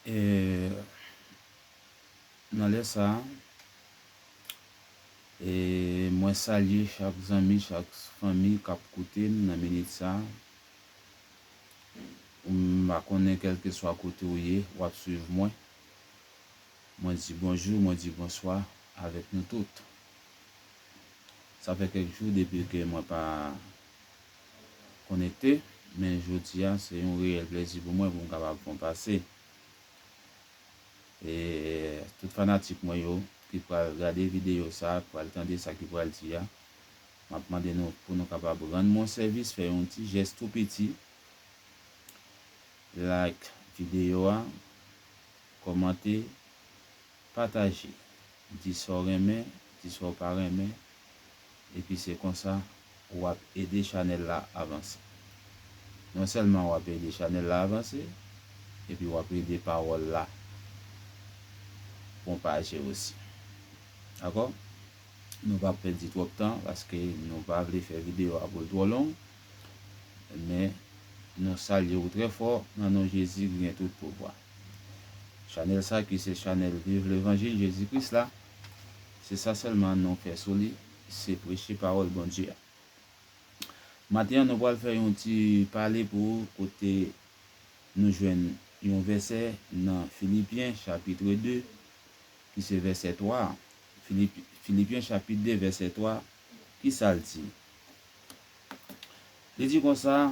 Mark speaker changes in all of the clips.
Speaker 1: E nan lè sa a, e mwen salye chak zanmi, chak fanmi k ap koute m nan minit sa a. M pa konnen kèlkeswa kote ou ye, w ap suiv mwen. Mwen di bonjou, mwen di bonswa avèk nou tout. Sa fè kèk jou depi ke mwen pa konekte, men jodi a se yon reyèl plezi pou mwen pou m kapab fè yon pase. E tout fanatik mwen yo ki pral gade videyo sa, ki pral tande sa ki pral di a, m ap mande nou pou nou kapab rann mwen sèvis, fè yon ti jès tou piti, like videyo a, Kòmante, pataje, di sa w renmen, di sa w pa renmen, epi se konsa ou ap ede chanèl la avanse. Non sèlman w ap ede chanèl la avanse, epi w ap ede pawòl la pwopaje osi. Dakò? Nou p ap pèdi twòp tan paske nou pa vle fè videyo a pou l twò long, men nou salye ou trè fò nan non Jezi ki gen tout pouvwa. Chanèl sa ki se chanèl viv levanjil Jezi Kris la, se sa sèlman nou fè sou li, se preche pawòl Bondye a. Maten an nou pral fè yon ti pale pou ou kote nou jwenn yon vèsè nan Filipyen chapitre 2 ki se vèsè 3 a. Filipyen chapit 2 vèsè 3, ki sa l di? Li di konsa.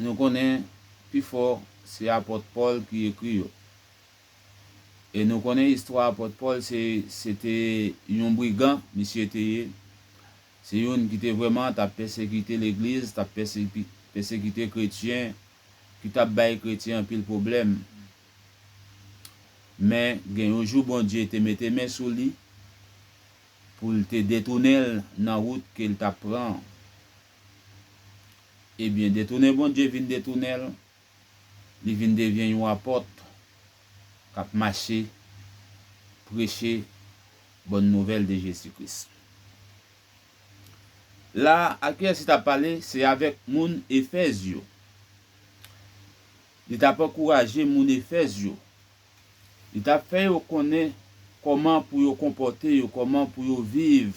Speaker 1: nou konnen pifò se apòt Pòl ki ekri yo. E nou konnen istwa apòt Pòl se se te yon brigan misye te ye, se youn ki te vrèman t ap pèsekite legliz, t ap pèsekite kretyen, ki t ap bay kretyen anpil pwoblèm. Men, gen yon jou Bondye te mete men sou li pou l te detounen l nan wout ke l t ap pran an. Ebyen detounen Bondye vin detounen l, li vin devyen yon apòt k ap mache preche bòn nouvèl de Jezi Kris. La a, Alkyèsi t ap pale se avèk moun Efèz yo. Li t ap ankouraje moun Efèz yo. Li t ap fè yo konnen kòman pou yo konpòte yo, kòman pou yo viv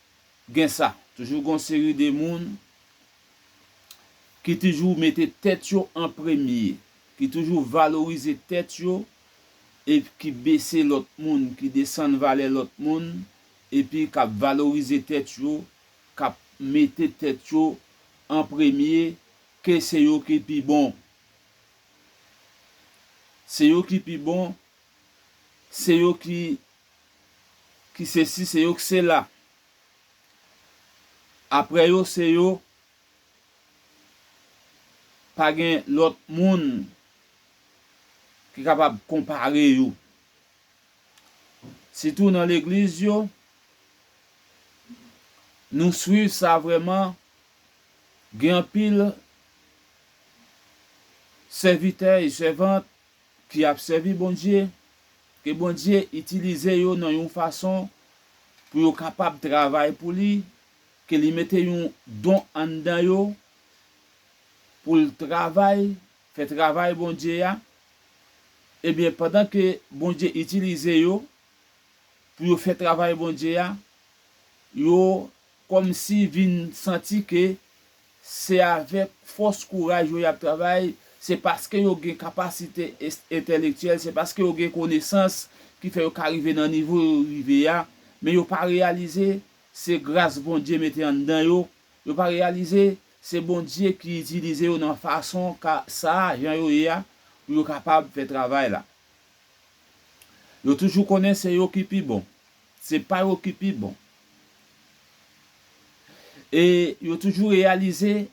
Speaker 1: gen sa. Toujou gon seri de moun ki toujou mete tèt yo an premye, ki toujou valorize tèt yo e ki bese lòt moun, ki desann valè lòt moun epi kap valorize tèt yo, kap mete tèt yo an premye ke se yo ki pi bon. Se yo ki pi bon, se yo ki ki sesi se yo k sela aprè yo se yo pa gen lòt moun ki kapab konpare yo sitou nan legliz yo nou swiv sa vrèman gen anpil sèvitè e sèvant ki ap sèvi Bondye, ke Bondye itilize yo nan yon fason pou yo kapab travay pou li, ke li mete yon don anndan yo pou l travay, fè travay Bondye a, ebyen pandan ke Bondye itilize yo pou yo fè travay Bondye a, yo Kòmsi vin santi ke se avèk fòs kouraj yo y ap travay, se paske yo gen kapasite entèlektyèl, se paske yo gen konesans ki fè yo ka rive nan nivo yo rive a, men yo pa reyalize se gras Bondye mete anndan yo, yo pa reyalize se Bondye ki itilize yo nan fason ka sa a, jan yo ye a, pou yo kapab fè travay la. Yo toujou konnen se yo ki pi bon. Se pa yo ki pi bon. E yo toujou reyalize,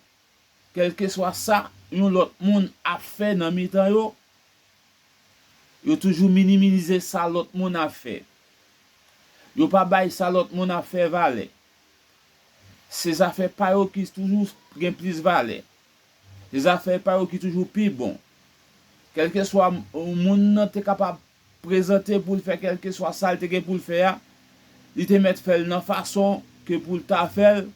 Speaker 1: kèlkeswa sa yon lòt moun ap fè nan mitan yo, yo toujou minimize sa lòt moun ap fè. Yo pa bay sa lòt moun ap fè valè. Se zafè pa yo ki toujou gen plis valè. Se zafè pa yo ki toujou pi bon. Kèlkeswa moun nan te kapab prezante pou l fè kèlkeswa sa l te gen pou l fè a, li te mèt fè l nan fason ke pou l ta fè l,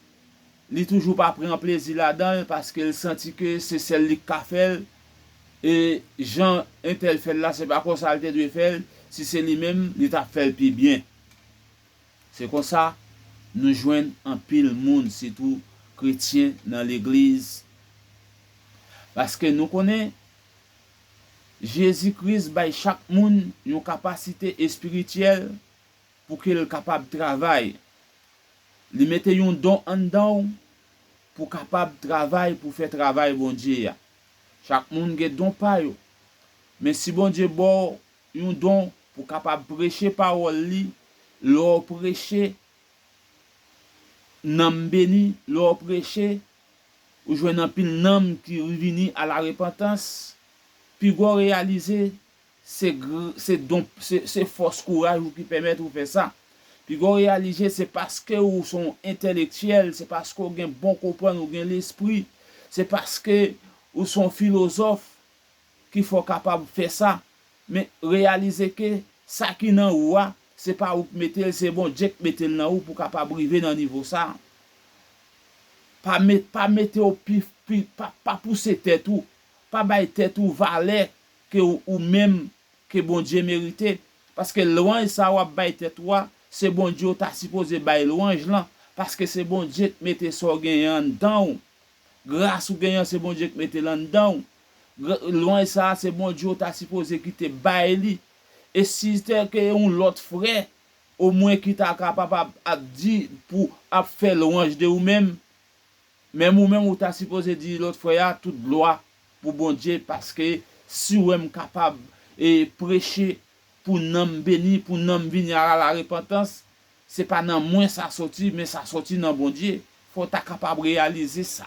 Speaker 1: li toujou pa pran plezi ladan l paske l santi ke se sèl li k ka fè l e jan entèl fè l la se pa konsa l te dwe fè l, si se li menm li t ap fè l pi byen. Se konsa nou jwenn anpil moun sitou kretyen nan legliz paske nou konnen. Jezi Kris bay chak moun yon kapasite espirityèl pou ke l kapab travay. Li mete yon don anndan w pou kapab travay pou fè travay Bondye a. Chak moun gen don pa yo. Men si Bondye ba w yon don pou kapab preche pawòl li, lè w preche, nanm beni, lè w preche, Ou jwenn anpil nanm ki rvini a la repantans, pi gwa w reyalize se gr se don se se fòs kouraj ou ki pèmèt ou fè sa. Pi gwa w reyalije se paske ou s on entelektyèl, se paske w gen bon konprann, ou gen lespri, se paske ou s on filozòf ki fè w kapab fè sa, men reyalize ke sa ki nan ou a, se pa ou k mete l, se Bondye k mete l nan ou pou w kapab rive nan nivo sa. Pa met, pa mete w pi, pi, pa, pa pouse tèt ou, pa bay tèt ou valè ke ou, ou menm, ke Bondye merite, paske lwanj sa w ap bay tèt ou a, se Bondye w ta sipoze bay lwanj lan, paske se Bondye k mete sa w genyen anndan w, gras ou genyen an se Bondye k mete l anndan w, Lwanj sa se Bondye ou ta sipoze kite bay li. E si te ke yon lòt frè o mwen ki ta kapab ap ap di pou ap fè lwanj de ou menm, menm ou menm ou ta sipoze di lòt frè a tout glwa pou Bondye paske si wè m kapab e preche pou nanm beni, pou nanm vini a la repantans, se pa nan mwen sa soti men sa soti nan Bondye. Fò w ta kapab reyalize sa.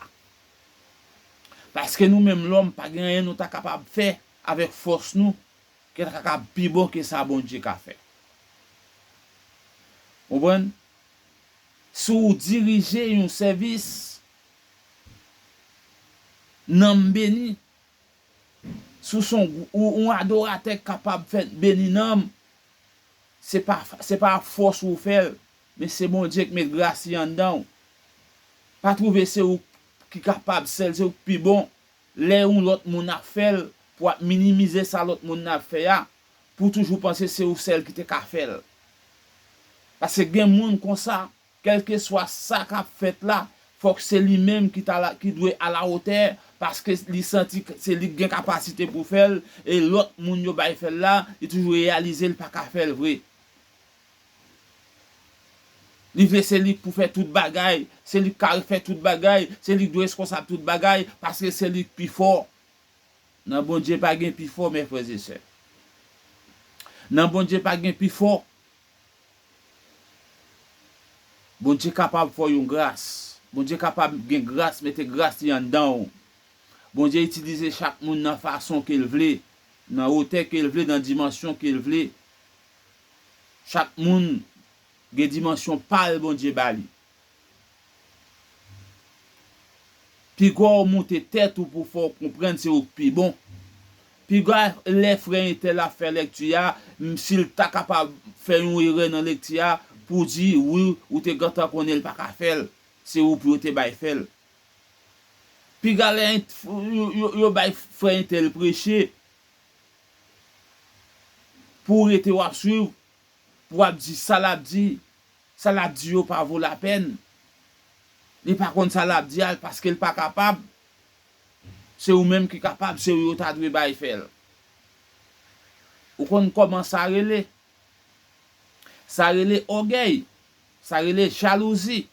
Speaker 1: Paske nou menm lòm pa gen anyen nou ta kapab fè avèk fòs nou ki ta kapab pi bon ke sa Bondye ka fè. Konprann? Si w dirije yon sèvis, nanm beni. Si w se yon yon adoratè k kapab fè beni nanm, se pa se pa ak fòs ou fè l, Men se Bondye k met grasy anndanw. Pa trouve se ou ki kapab sèl se ou k pi bon lè yon lòt moun ap fèl pou ap minimize sa lòt moun nan ap fè a pou toujou panse se ou sèl ki te ka fèl paske gen moun konsa kèlkeswa sa kap fèt la fòk se li menm ki ta ki dwe alawotè paske li santi se li k gen kapasite pou fèl e lòt moun yo bay fèl la li toujou reyalize li paka fèl vre. Li vle se li k pou fè tout bagay, se li k ka refè tout bagay, se li k dwe reskonsab tout bagay, paske se li k pi fò. Nan Bondye pa gen pi fò, mè frè e sè. Nan Bondye pa gen pi fò. Bondye kapab fè w yon gras. Bondye kapab gen gras, mete gras li anndan w. Bondye itilize chak moun nan fason ke l vle, nan wotè ke l vle, nan dimansyon ke l vle. Chak moun gen dimansyon pal Bondye bali. Piga w moute tèt ou pou fè w konprann se ou k pi bon. Piga lè frè entèl ap fè lèkti a, si l ta kapab fè yon erè nan lekti a, pou w di wi ou te gentan konnen l pa ka fè l, se ou pou yo te bay fè l. Piga lè yo bay frè entèl preche, Pou rete wap swiv pou wap di sa lap di sa lap di yo pa vo la pèn li pa konn sa lap di a paskel pa kapab se ou menm ki kapab se ou yo ta dwe bay fèl ou konn kòman sa rele sa rele ògèy sa rele jalouzi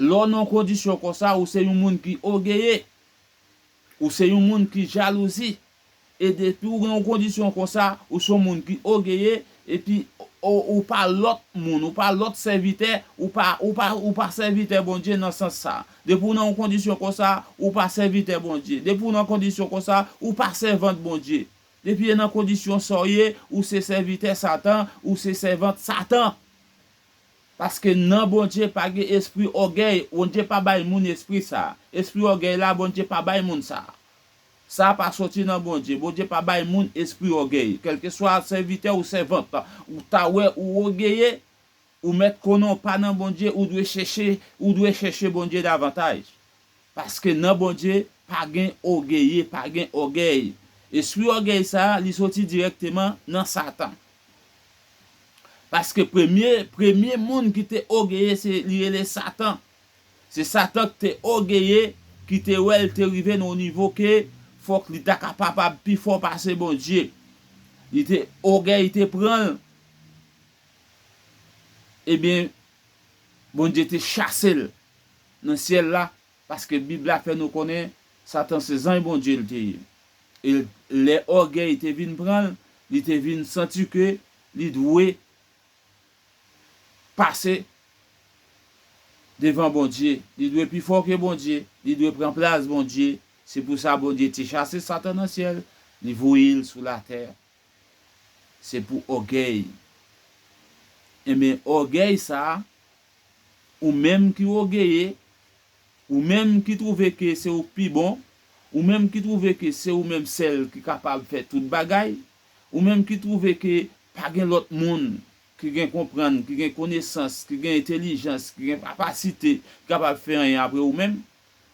Speaker 1: lè w nan yon kondisyon konsa ou se yon moun ki ògeye. Ou se yon moun ki jalouzi. E depi ou gen yon kondisyon konsa, ou se yon moun ki ogeye, epi ou pa lòt moun, ou pa lòt sèvitè, ou pa, ou pa, ou pa sèvitè Bondye nan sans sa. Depi ou nan yon kondisyon konsa, ou pa sèvitè Bondye. Depi ou nan kondisyon konsa, ou pa sèvant Bondye. Depi e nan kondisyon sa w ye, ou se sèvitè Satan, ou se sèvant Satan. Paske nan Bondye pa gen espri ògèy, Bondye pa bay moun espri sa a. Espri ògèy la, Bondye pa bay moun sa a. Sa a pa soti nan Bondye. Bondye pa bay moun espri ògèy. Kèlkeswa sèvitè ou sèvant ou ta wè ou ògeye, ou mèt konnen w pa nan Bondye, ou dwe chèche, ou dwe chèche Bondye davantaj. Paske nan Bondye pa gen ogeye, pa gen ògèy. Espri ògèy sa a, li soti dirèkteman nan Satan. Paske premye, premye moun ki te ogeye se, li rele Satan. Se Satan ki te ogeye, ki te wè l te rive nan yon nivo ke fòk li ta kapapab pi fò pase Bondye. Li te, ogèy te pran l. Ebyen, Bondye te chase l. nan syèl la, paske Bib la fè nou konnen Satan se zanj Bondye l te ye. E lè ògèy te vin pran l, li te vin santi ke li dwe pase devan Bondye, li dwe pi fò ke Bondye, li dwe pran plas Bondye. Se pou sa Bondye te chase Satan nan syèl, li voye l sou latè. Se pou ògèy. Enben, ògèy sa a, Ou menm ki ogeye, ou menm ki twouve ke se ou k pi bon, ou menm ki twouve ke se ou menm sèl ki kapab fè tout bagay, ou menm ki twouve ke pa gen lòt moun ki gen konprann, ki gen konesans, ki gen entelijans, ki gen kapasite ki kapab fè anyen apre ou menm,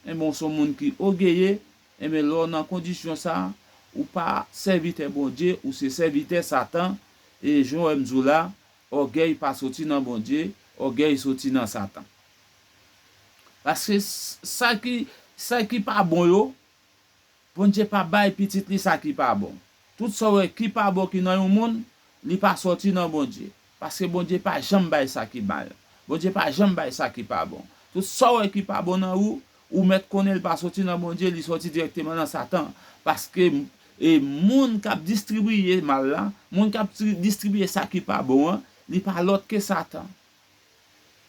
Speaker 1: enben w son moun ki ogeye, enben lè w nan kondisyon sa, ou pa sèvitè Bondye, ou se sèvitè Satan, e jan w wè m di w la, Ògèy pa soti nan Bondye, ògèy soti nan Satan. Paske sa ki sa ki pa bon yo, Bondye pa bay pitit li sa ki pa bon. Tout sa w wè ki pa bon ki nan yon moun, li pa soti nan Bondye. Paske Bondye pa janm bay sa ki mal. Bondye pa janm bay sa ki pa bon. Tout sa w wè ki pa bon nan ou, Ou mèt konnen li pa soti nan Bondye, li soti dirèkteman nan Satan. Paske, e, moun k ap distribiye mal la, moun k ap distribiye sa ki pa bon an, li pa lòt ke Satan.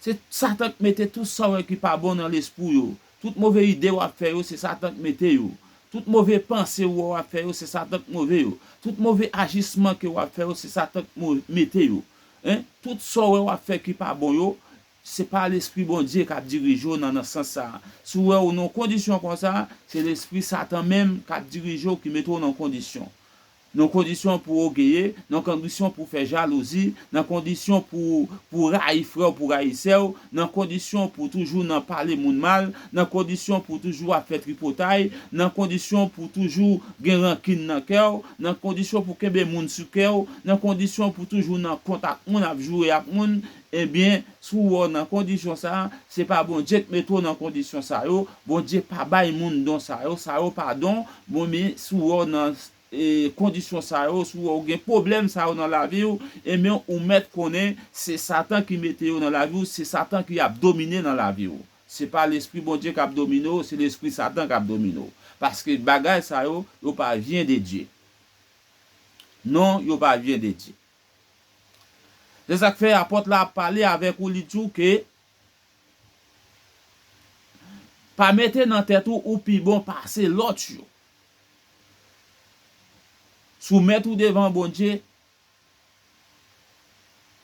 Speaker 1: Se Satan k mete tout sa w wè ki pa bon nan lespri w yo. Tout move ide w ap fè yo, se Satan k mete yo. Tout move panse ou wè w ap fè yo, se Satan k move yo. Tout move ajisman ke w ap fè yo, se Satan k mete yo. Hein? Tout sa w wè w ap fè ki pa bon yo, Se pa lespri Bondye k'ap dirije w' nan nan sans sa a. Si w' wè ou nan kondisyon konsa, se lespri satan menm k'ap dirije w' ki mete w' nan kondisyon. Nan kondisyon pou w' ogeye, nan kondisyon pou w' fè jalouzi, nan kondisyon pou w' pou w' rayi frè w' pou w' rayi sè w', nan kondisyon pou w' toujou nan pale moun mal, nan kondisyon pou w' toujou ap fè tripotay, nan kondisyon pou w' toujou gen rankin nan kè w', nan kondisyon pou w' kenbe moun sou kè w', nan kondisyon pou w' toujou nan kont ak moun ap joure ak moun, Ebyen, si w wè w nan kondisyon sa a, se pa Bondye k mete w nan kondisyon sa yo, Bondye pa bay moun don sa yo, sa yo pa don, bon men si w wè w nan kondisyon sa yo, si w wè w gen pwoblèm sa yo nan lavi w, enben ou mèt konnen se satan ki mete yo nan lavi w, se satan ki ap domine nan lavi w. Se pa lespri Bondye k ap domine w, se lespri satan k ap domine w. Paske bagay sa yo, yo pa vyen de Dye. Non, yo pa vyen de Dye. Se sa k fè Apot la ap pale avèk ou li di w ke, Pa mete nan tèt ou ou pi bon pase lòt yo. Soumèt ou devan Bondye,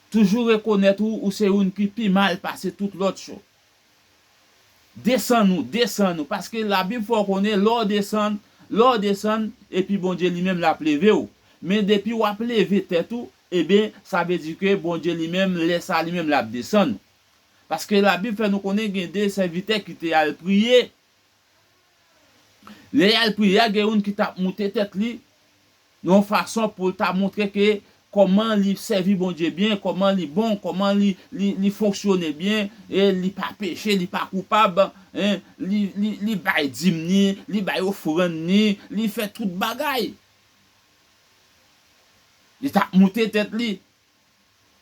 Speaker 1: toujou rekonèt ou ou se youn ki pi mal pase tout lòt yo. Desann ou, desann ou, paske labib fè w konnen lè w desann, lè w desann, epi Bondye li menm lap leve w, men depi wap leve tèt ou, eben sa vle di ke Bondye li menm lè sa li menm lap desann ou. Paske labib fè nou konnen gen de sèvitè ki te al priye Lè yal priye a gen youn ki tap moute tèt li nan yon fason poul ta montre ke kòman li sèvi Bondye byen, kòman li bon, kòman li li li fonksyone byen, e li pa peche, li pa koupab, e li li li bay dim ni, li bay ofrann ni, li fè tout bagay. Li tap moute tèt li.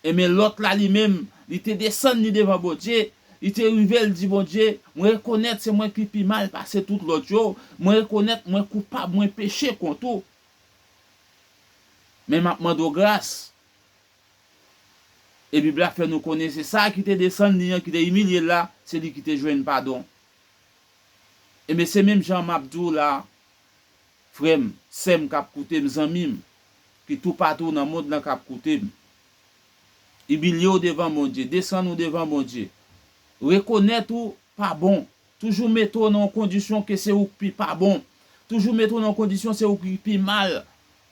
Speaker 1: Enben Lòt la li menm, li te desann li devan Bondye, li te rive, li di Bondye, Mwen rekonèt se mwen ki pi mal pase tout lòt yo, mwen rekonèt mwen koupab, mwen peche kont ou. Men m ap mande w gras. E Bib la fè nou konnen se sa a ki te desann li an, ki te imilye l la, se li ki te jwenn padon. Enben se menm jan m ap di w la a. Frè m, sè m k ap koute m, zanmi m, ki toupatou nan mond lan k ap koute m, imilye w devan Bondye, desann ou devan Bondye, rekonèt ou pa bon, toujou mete w nan yon kondisyon ke se ou k pi pa bon, toujou mete w nan yon kondisyon se ou ki pi mal,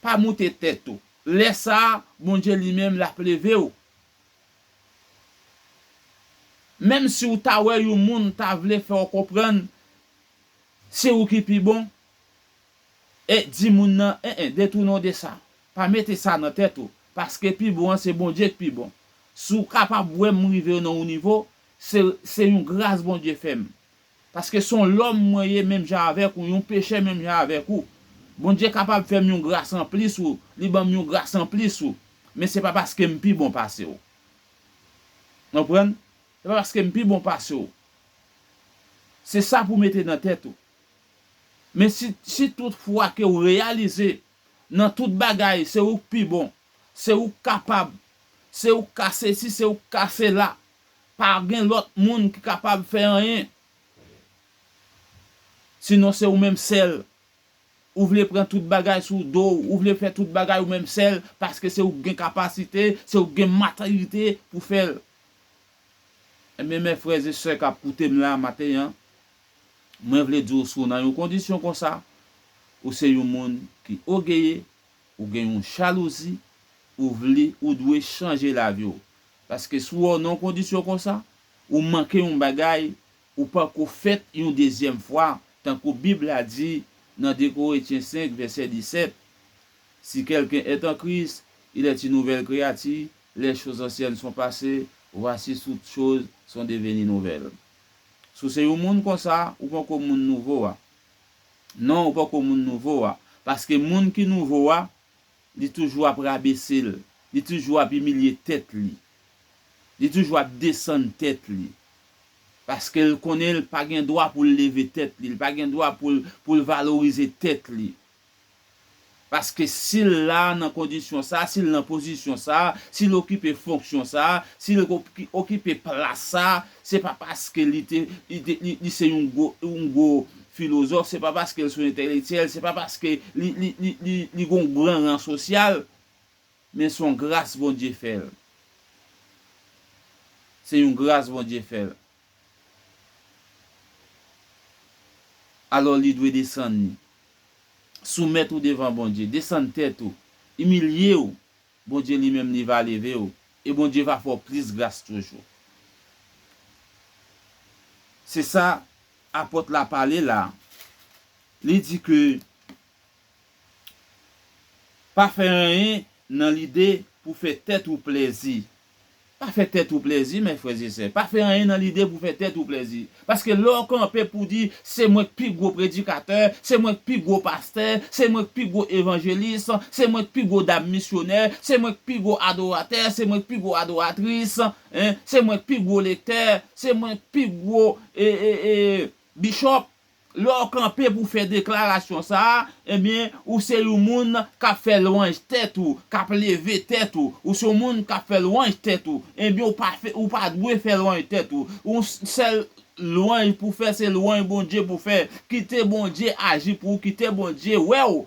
Speaker 1: pa moute tèt ou. Lè sa a, Bondye li menm l ap leve w. Menm si w ta wè yon moun ta vle fè w konprann se ou ki pi bon, E di moun nan, en en, detounen w de sa. Pa mete sa nan tèt ou, paske pi bon an se Bondye k pi bon. Si w kapab wè m rive nan yon nivo, se se yon gras Bondye fè m. Paske s on lòm mwen ye menm jan avèk ou, yon pechè menm jan avèk ou. Bondye kapab fè m yon gras anplis ou, li ban m yon gras anplis ou, men se pa paske m pi bon pase w. Nou konprann? Se pa paske m pi bon pase w. Se sa pou w mete nan tèt ou. Men si si tout fwa ke ou reyalize nan tout bagay se ou k pi bon, se ou k kapab, se ou k ka sesi, se ou k ka sela, pa gen lòt moun ki kapab fè anyen, sinon se ou menm sèl, ou vle pran tout bagay sou do w, ou vle fè tout bagay ou menm sèl, paske se ou k gen kapasite, se ou k gen matirite pou fè l. Enben mè frè e sè k ap koute m la maten an, Mwen vle di w si w nan yon kondisyon konsa, ou se yon moun ki ogeye, ou gen yon jalouzi, ou vle, ou dwe chanje lavi w. Paske si w nan yon kondisyon konsa, ou manke yon bagay, ou pako fèt yon dezyèm fwa, tankou Bib la di nan 2 Koretyen 5 vèsè 17, Si kèlken èt an Kris, il èt yon nouvèl kreyati, lèchoz ansyèn son pase, vwasi tout choz son deveni nouvèl. Si w se yon moun konsa, ou poko moun nouvo a. Non, ou poko moun nouvo a. Paske moun ki nouvo a, li toujou ap rabese l. Li toujou ap imilye tèt li. Li toujou ap desann tèt li. Paske l konnen l pa gen dwa pou l leve tèt li. L pa gen dwa pou l pou l valorize tèt li. Paske si l la nan kondisyon sa a, si l nan pozisyon sa a, si l okipe fonksyon sa a, si l okipe plas sa a, se pa paske li te, li te, li se yon gwo, yon gwo filozòf, se pa paske l se yon entèlektyèl, se pa paske li, li, li, li, li gen yon gran ran sosyal, men s on gras Bondye fè l. Se yon gras Bondye fè l. Alò li dwe desann li. Soumèt ou devan Bondye. Desann tèt ou. Imilye ou. Bondye li menm li va leve ou. E Bondye va fè ou plis gras toujou. Se sa Apòt la pale la. Li di ke pa fè anyen nan lide pou fè tèt ou plèzi. Pa fè tèt ou plèzi mè frè e sè, pa fè anyen nan lide pou fè tèt ou plèzi. Paske lè w kanpe pou di, se mwen k pi gwo predikatè, se mwen k pi gwo pastè, se mwen k pi gwo evanjelis, se mwen k pi gwo dam misyonè, se mwen k pi gwo adoratè, se mwen k pi gwo adoratris, se mwen k pi gwo lektè, se mwen k pi gwo e e e bishop, Lè w kanpe pou w fè deklarasyon sa a, ebyen, ou se yon moun k ap fè lwanj tèt ou, k ap leve tèt ou. Ou se yon moun k ap fè lwanj tèt ou. Ebyen, ou pa fè, ou pa dwe fè lwanj tèt ou. Yon sèl lwanj pou w fè, se lwanj Bondye pou w fè. Kite Bondye aji pou ou, kite Bondye wè w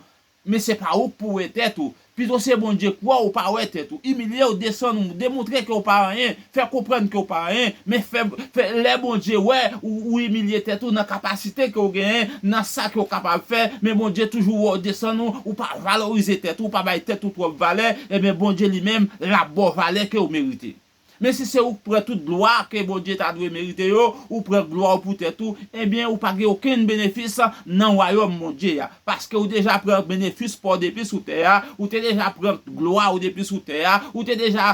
Speaker 1: Men se pa ou k pou wè tèt ou. Pito se Bondye k wè ou pa wè tèt ou. Imilye w, desann ou, demontre ke w pa anyen, fè konprann ke w pa anyen, men fè, fè, lè Bondye wè ou, ou imilye tèt ou nan kapasite ke w genyen, nan sa ke w kapab fè, men Bondye toujou wè w desann ou, ou pa valorize tèt ou, ou pa bay tèt ou twòp valè, enben Bondye li menm l ap ba w valè ke w merite. Men si se ou k pran tout glwa ke Bondye ta dwe merite yo, ou pran glwa ou pou tèt ou, enben ou pa gen okenn benefis nan wayòm Bondye a. Paske ou deja pran benefis pa w depi sou tè a, ou te deja pran glwa ou depi sou tè a, ou te deja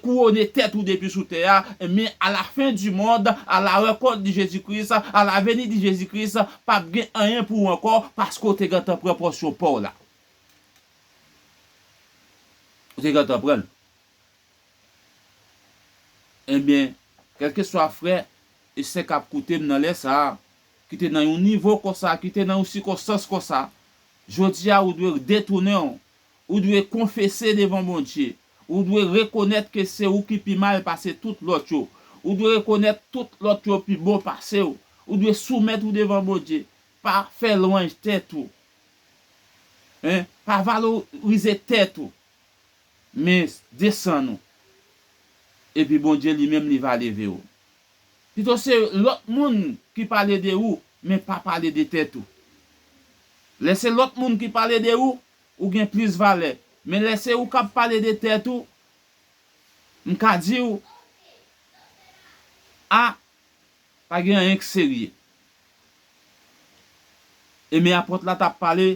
Speaker 1: kouwone tèt ou depi sou tè a, men a la fen di mond, a la rankont di Jezi Kris, a la veni di Jezi Kris, p ap gen anyen pou ou ankò, paske ou te gentan pran pòsyon pa w la. Ou te gentan pran l. Enben, kèlkeswa frè e sè k ap koute m nan lè sa a, ki te nan yon nivo konsa, ki te nan yon sikonstans konsa, jodi a ou dwe detounen w, ou dwe konfese devan Bondye, ou dwe rekonèt ke se ou ki pi mal pase tout lòt yo, ou dwe rekonèt tout lòt yo pi bon pase w, ou dwe soumèt ou devan Bondye, pa fè lwanj tèt ou, pa valorize tèt ou, Men, desann ou. Epi Bondye li menm li va leve ou. Pito se lòt moun ki pale de ou, men pa pale de tèt ou. Lè se lòt moun ki pale de ou, ou gen plis valè. Men lè se ou k ap pale de tèt ou, m ka di ou, A, pa gen anyen k serye. E men apot la t ap pale,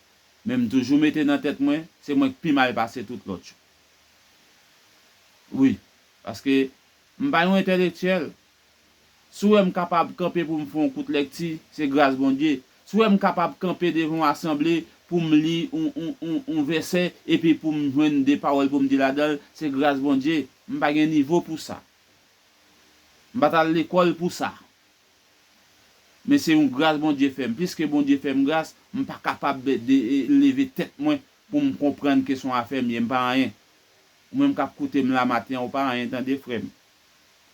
Speaker 1: Men m toujou mete nan tèt mwen, se mwen k pi mal pase tout lòt yo. Wi, paske m pa yon entèlektyèl. Si w wè m kapab kanpe pou m fè yon kout lèkti, se gras Bondye. Si w wè m kapab kanpe devan yon asanble pou m li yon vèsè epi pou m jwenn de pawòl pou m di ladan l, se gras Bondye. M pa gen nivo pou sa. M pa t al lekòl pou sa. Men se yon gras Bondye fè m. Piske Bondye fè m gras, m pa kapab leve tèt mwen pou m konprann ke son afè m ye. M pa anyen. Ou menm k ap koute m la maten an, ou pa anyen tande frè m.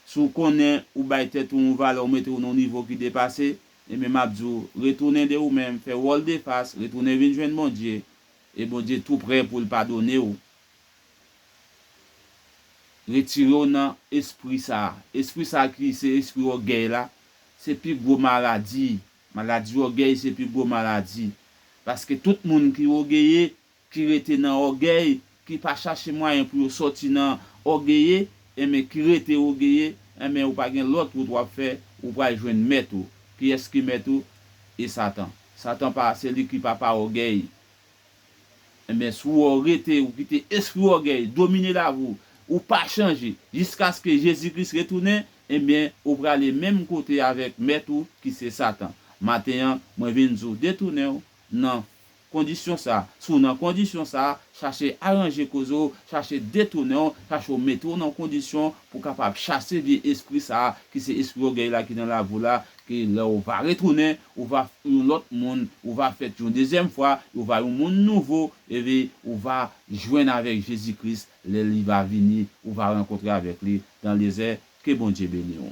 Speaker 1: Si w konnen ou bay tèt ou yon valè, ou mete w nan yon nivo ki depase, enben m ap di w, retounen de ou menm, fè wòl defas, retounen vin jwenn Bondye, e Bondye tou prè pou l padone w. Retire w nan espri sa a. Espri sa a ki se espri ògèy la, se pi gwo maladi. Maladi ògèy se pi gwo maladi. Paske tout moun ki ògeye, ki rete nan ògèy, ki pa chache mwayen pou yo sòti nan ògeye, enben ki rete ògeye, enben ou pa gen lòt wout w ap fè, ou pral jwenn mèt ou. Kiyès ki mèt ou? E Satan. Satan pa, se li ki papa ògèy. Enben si ou rete, ou kite espri ògèy domine lavi ou, ou pa chanje jiskaske Jezi Kris retounen, enben ou prale menm kote avèk mèt ou ki se Satan. Maten an, mwen vin di ou detounen ou nan kondisyon sa a. Si ou nan kondisyon sa a, chache aranje koze ou, chache detounen ou, chache ou mete ou nan kondisyon pou kapab chase vye espri sa a ki se espri ògèy la ki nan lavi ou la, ke lè ou va retounen, Ou va f yon lòt moun, ou va fèt yon dezyèm fwa, ou va yon moun nouvo, epi ou va jwenn avèk Jezi Kris lè li va vini, ou va rankontre avèk li dan dezè, ke Bondye beni w.